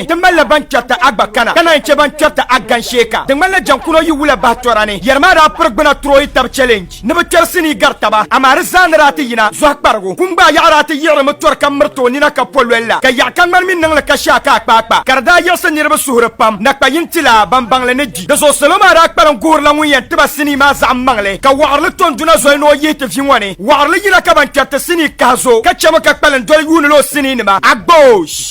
ni ti malila ban kpɛrita a gba kana ka naan chɛ ban kpɛrita a gan shee ka di ŋmanila jɛŋkuno yi wula bahi tɔra ni yɛri maa daa piri gbuna turoyi tab challenge ni bi kpɛri sinii gari taba amaa di zaa ni daa ti yina zɔhi kparigu kum gbaai yaɣa daa ti yiɣirimi tɔri ka miriti o nina ka pololi la ka yaɣi ka ŋmani mi niŋli ka shɛa ka akpaakpa ka di daa yiɣisi niriba suhuri pam na kpa yin ti la ban baŋli ni gbi di zuɣu salo maa daa kpalim guhirila ŋun yɛn tiba sinii maa zaɣim maŋli ka waɣirili to n duna zoli ni o yihi ti vi ŋɔ ni waɣirili yina ka ban kpɛriti sinii kahi zo ka chɛmi ka kpalim doli yuunila o sinii nima agboosh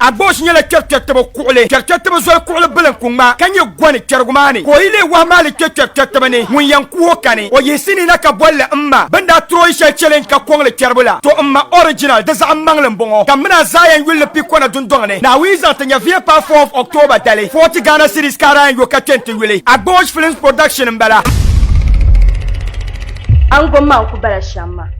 Agboosh nyɛla kpɛrikpɛritiba kuɣili. Kpɛrikpɛritiba zoli kuɣili bila n-ku ŋma ka nyɛ gɔni kpɛrigu maa ni, ka o yi leei wahu maa li kpe kpɛrikpɛritiba ni, ŋun yɛn ku o kani. O yiɣisi ni na ka boli li M ma. Bɛ ni daa tiri o yi shɛli challenge ka kɔŋ li kpɛribu la, to M ma original di zaɣim maŋli m-bɔŋɔ. Kammina a Zion yuli ni Pikona dundɔŋ ni, Naawuni yi zaŋ ti nya via paai fourth October dali, forty Ghana cedis ka a daa yɛn yo ka kpe n-ti yuli. Agboosh Films Production m-bala. Ango maa n-ku bala shɛm maa.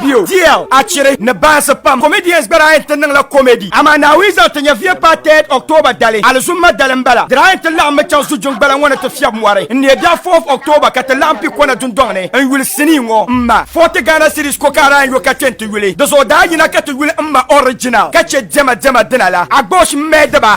Bio, DL, Achiri ni baansi pam comedians gba daa yɛn ti niŋla comedy amaa Naawuni zaŋ ti nya via paai 3rd October dali alizumma dali m-bala. Di daa yɛn ti laɣim mi chaŋ Zujuŋgbala ŋɔ ni ti fiɛbi mɔri n-neei biɛɣu 4th October ka ti laɣim pi kɔna dundɔŋ ni n-yuli sinii ŋɔ m-ma. Forty Ghana cedis ko ka a daa yɛn yo ka chani ti yuli di zuɣu daa yina ka ti yuli m-ma original ka che diɛma diɛma dina la. Agbosh m-mɛɛdiba.